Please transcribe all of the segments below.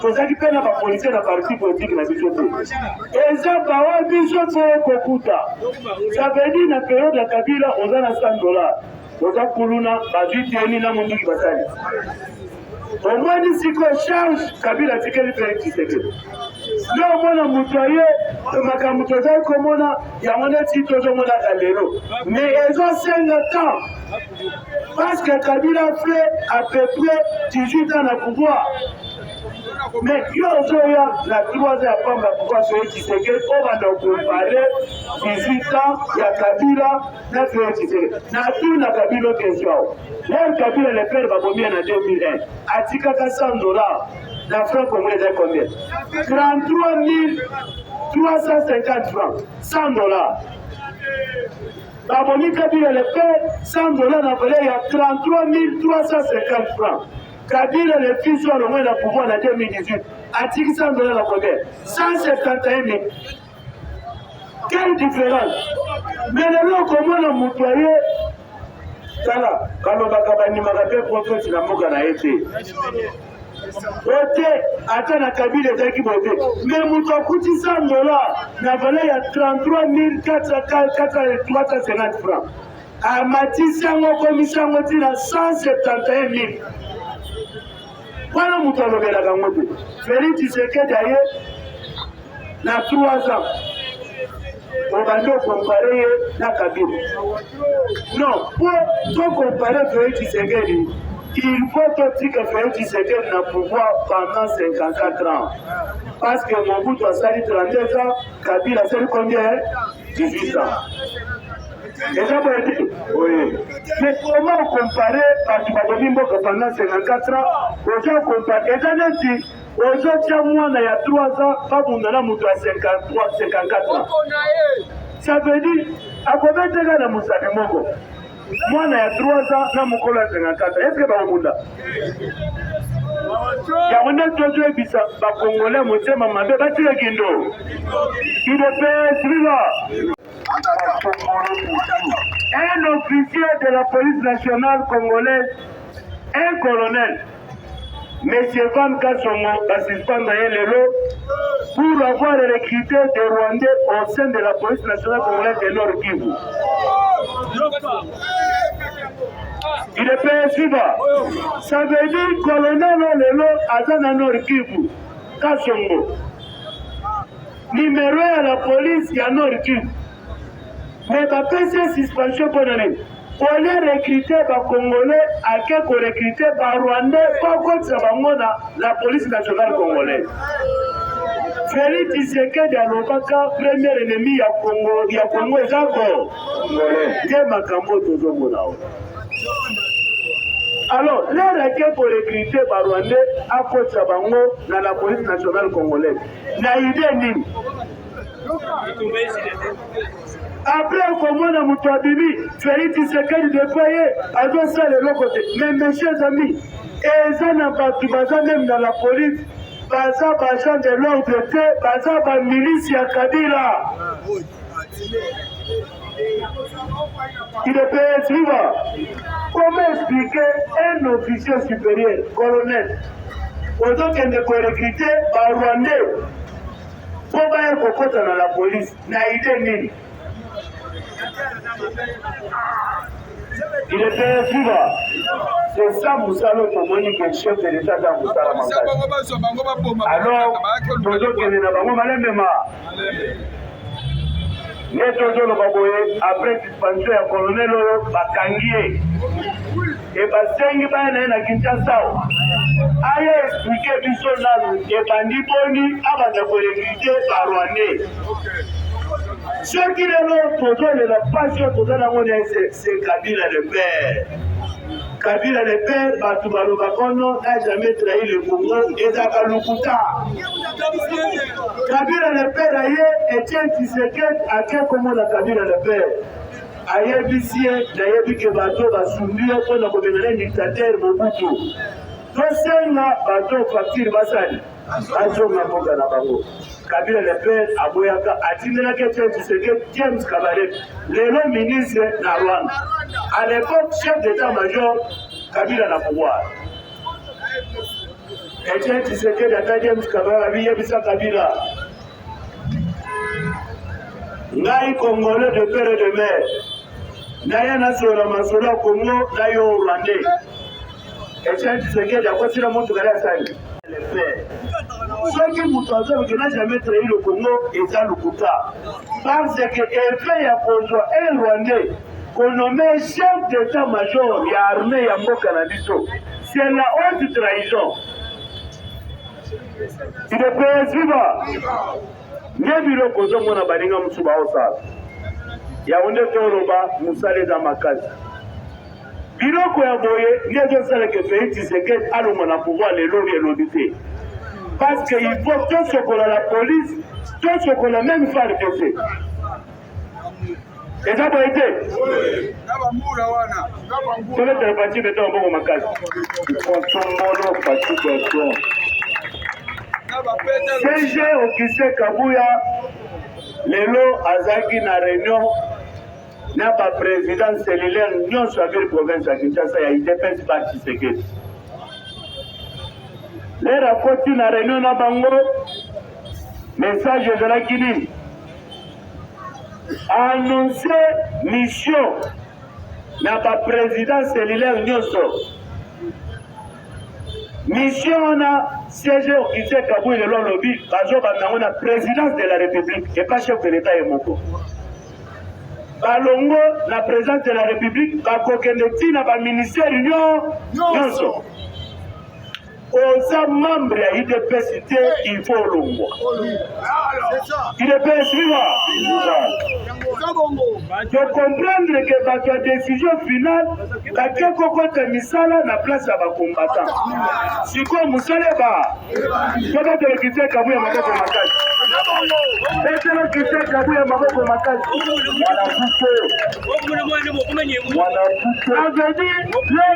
tozalaki mpe na bapolisie na parti politike na biso te eza bawa biso mpo kokuta savedi na periode ya kabila oza na 100 dolar oza kuluna bazwi teni na monduki basali omoni sikoyo charge kabila atikeli felix tshisekedi nde omona moto aye makambo tozali komona yango neti tozomona kalelo mais ezosenga temps Parce que Kabila fait à peu près 18 ans na pouvoir. Mais yo ozoya na 3 ans ya pamba pouvoir soye Tshisekedi obanda comparer 18 ans ya Kabila na soye Tshisekedi. Na tout na Kabila question. Même Kabila le père babomi na 2001 atikaka 100 dollars na franc congolais ezali combien 33 350 francs 100 dollars Bamoni Kabila le père 100 dollars na valeur ya 33350 francs. Kabila le fils oyo alongwe na pouvoir na 2018 atiki 100 dollars na combien 171 000. Quelle différence Mais lelo okomona moto ya ye tala balobaka bandimaka mpe prophète na mboka na ye te ote ata na kabila ezalaki boye te me moto akutisa angola na valeur ya 33450 franc amatisi yango akomisi yango ntina 171000 wana moto alobelaka yango te feli tisekedi aye na 3 ans obandi okompare ye na kabila non po tokompare fei tshisekedi il faut totika fei tshisekedi na pouvoir pendant 54 ans parce que mobutu asali 32 ans kabila asali combien 18 ans eza boye te mais comment okompare bato babomi mboka pendant 54 ans oza okompare eza neti Ozo tia mwana ya 3 ans babunda na moto ya 53 54 ans. Ça veut dire akobeteka na mosapi moko mwana ya 3 ans na mokolo ya 54 est ce que bakobunda yango nde tozoyebisa bakongole motema mabe batika kindo udps viva un officier de la police nationale congolaise un colonel Monsieur Van Kasongo ba suspendre ye lelo pour avoir recruté des Rwandais au sein de la police nationale congolaise de Nord Kivu. Il est payé suivant. Ça veut dire colonel lelo aza na Nord Kivu. Kasongo. Numéro ya la police ya Nord Kivu. Mais ba pesi suspension mpo na nini? au lieu recruter ba congolais ake ko recruter ba rwandais po akotisa bango na la police nationale congolaise Felix Tshisekedi alobaka premier ennemi ya Congo ya Congo eza ko nde makambo tozomona oyo alors lere ake ko recruter ba rwandais akotisa bango na la police nationale congolaise na idee nini apres okomona moto abimi felix tshisekedi depa ye azosala eloko te mais messieurs amis eza na bato baza meme na la police baza baagent de l'ordre te baza bamilisi ya kabila il est payé suivant comment expliquer un officier supérieur colonel ozokende korekrute barwandais po baya kokota na la police na idee nini il est payé vivre c'est ça mosala okomoni ke chef de l'état ta mosala makasi alors tozokende na bango malemema nde tozoloba boye après suspension ya colonel oyo bakangi ye e basengi baya na ye na kinshasa aya explike biso nanu ebandi boni abanda korekrute barwandais soki lelo tozolela mpasi oyo toza nango na se kabila le père kabila le père bato balobaka ono na jamais trahi le congo ezalaka lokuta kabila le père aye etienne tisekedi ake komona kabila le père ayebisi ye nayebi ke bato basumbi yo mpo na kobenda na dictateur mobutu tosenga bato faktire basali bazonga mboka na bango kabila le père aboyaka atindelaki ete tshiseke james kabale lelo ministre na rwanda à l'époque chef d'état major kabila na pouvoir ete tshisekedi ata james kabale abiyebisa kabila ngai congolais de pere de mer naye nasola masolo ya kongo na yo rwandais etienne tshisekedi akosila motuka na asali soki moto azoloki na jamais trahi le congo eza lokuta parce que effet ya kozwa un rwandais konome chef d'état major ya armée ya mboka na biso c'est la haute trahison Idps viva! Nde biloko ozomona baninga mosusu baosala yango nde toloba mosala eza makasi. Biloko ya boye nde ezosala ke Felix Tshisekedi alonga na pouvoir lelo oyo elobi te, parce que il faut tosokola la police, tosokola meme FARDC. eza boye te tolekele pati beta maboko makasi konsombolo pati beton cg okise kabuya lelo azalaki na réunion na baprésident cellulaire nyonso ya ville province ya kinshasa ya idps ba tshisekedi lere akoti na réunion na bango message ezalaki nini a annonce mission na ba président cellulaire nyonso mission wana siège occupé kabui lelo alobi bazobanda yango na présidence de la république epa chef de l'état ye moko balongo na présidence de la république bakokende ntina baministère nyonso oza membre ya udps te il faut olongwa udps viva tokomprendre ke bato ya décision finale bake kokota misala na place ya bacombatant sikoyo mosala eba tobetela kristian kabu ya maboko makasi betela kristian kabu ya maboko makasi wala kuko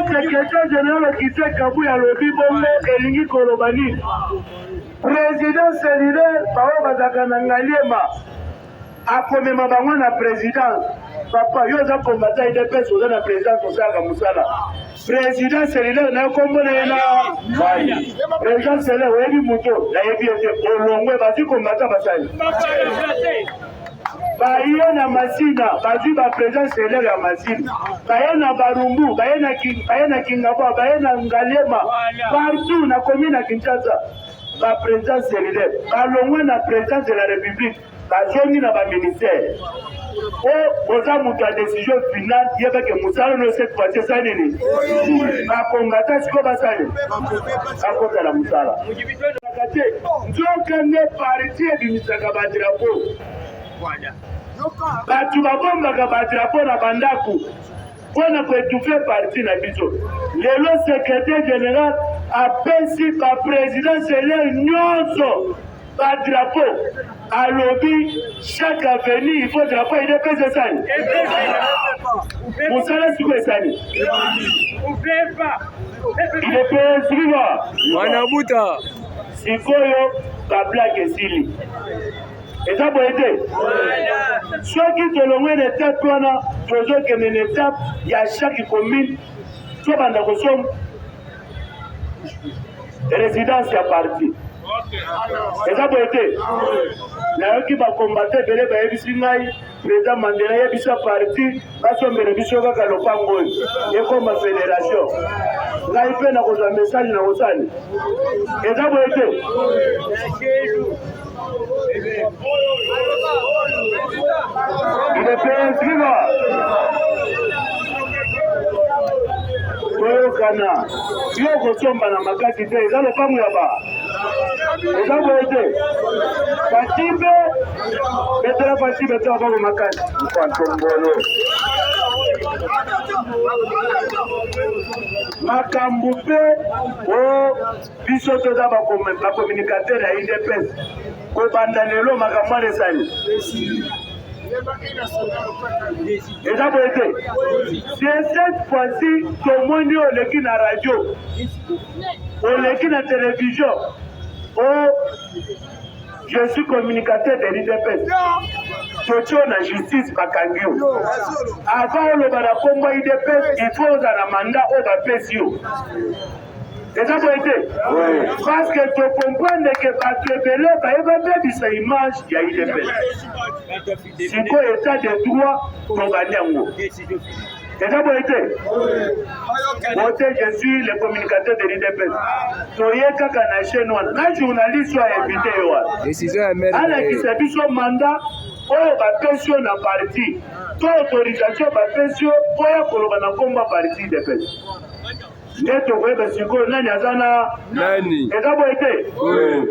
Sekretari Jenerali Okise Kabuya alobi bongo elingi koloba nini? President selulaire baoyo bazalaka na Ngaliema akomema bango na presidence. Papa yo oza kombata idps oza na presidence osalaka mosala president selulaire nayo kombo na ye na mai president selulaire oyebi moto nayebi ete olongwe bazwi kombata basali baye na masina bazwi ba presence selere ya masina baye na barumbu baye na baye na kingabwa baye na ngalema partout na commune ya kinshasa ba presence selere balongwe na presence de la république bazongi na baministère o oza moto ya décision finale yebake mosala no cette fois ci esali nini bakongata sikoyo basali bakota na mosala ezalaka te nzoka nde parti ebimisaka badrapo bato babombaka badrapo na bandako mpo na koetufe parti na biso lelo secretaire general apesi bapresidence elei nyonso badrapo alobi chaque avenue il faut drapeau ya udps esali mosala siko esali udps viva mwana buta sikoyo bablake esili eza boye te soki tolongwe na etape wana tozokende na etape ya chaque commune tobanda kosomba residence ya parti eza boye te nayoki bakombata ebele bayebisi ngai president mandela yebisa parti basombela biso kaka lopango oyo ekoma federation ngai mpe nakozwa message na kosali eza boye te toyokana yo okosomba na makasi te eza lopango ya ba eza boye te batimbe betela pasi betela bango makasi mpantombolo makambo mpe o biso toza bacommunicateur ya udps kobanda lelo makambo wana esali eza boye te de cette fois-ci tomoni oyo oleki na radio oleki na télévision o oh, je suis communicateur de l'udps totio na justice bakangi yo avant oloba na nkombo ya udps il faut ozala manda oyo bapesi yo eza boye te parce que to comprendre ke bato ebele baye babebisa image ya idps sikoyo etat de droit tobandi yango eza boye te bote je suis le communicateur de l'idps toye kaka na chaîne wana na journaliste oyo ainvite ye wana alakisa biso mandat oyo bapesi yo na parti to autorisation bapesi yo oya koloba na nkombo ya parti idps nde tokoyeba sikoyo nani aza na nani eza boye te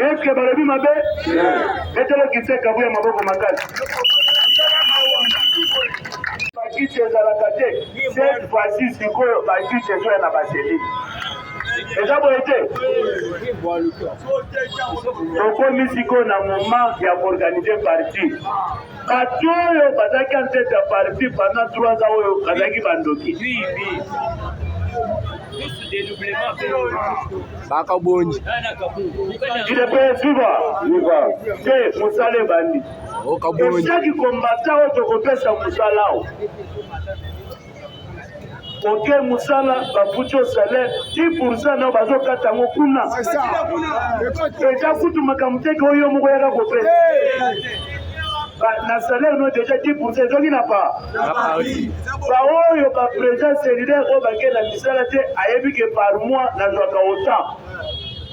eske balobi mabe etelo kisekabu ya maboko makasi bakiti ezalaka te cette fois-ci sikoyo bakiti ezoya na baseli eza boye te tokomi sikoyo na moment ya koorganize parti Batu oyo bazalaki en tete ya parti pendant 3 ans oyo bazalaki bandoki. bakabonji udps viva viva te mosala ebandi esaki kombata oyo tokopesa mosala o kote mosala bafuti yo salaire ti poursa nao bazokata yango kuna eza kutu makambo teke oyo yo moko yaka kopesa na salaire no deja 10 pourcent ezoki na pa baoyo baprésent cellulaire oyo bakenda misala te ayebi ke par mois nazwaka autant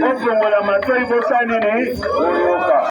Bozongola matoi bosani ni boyoka.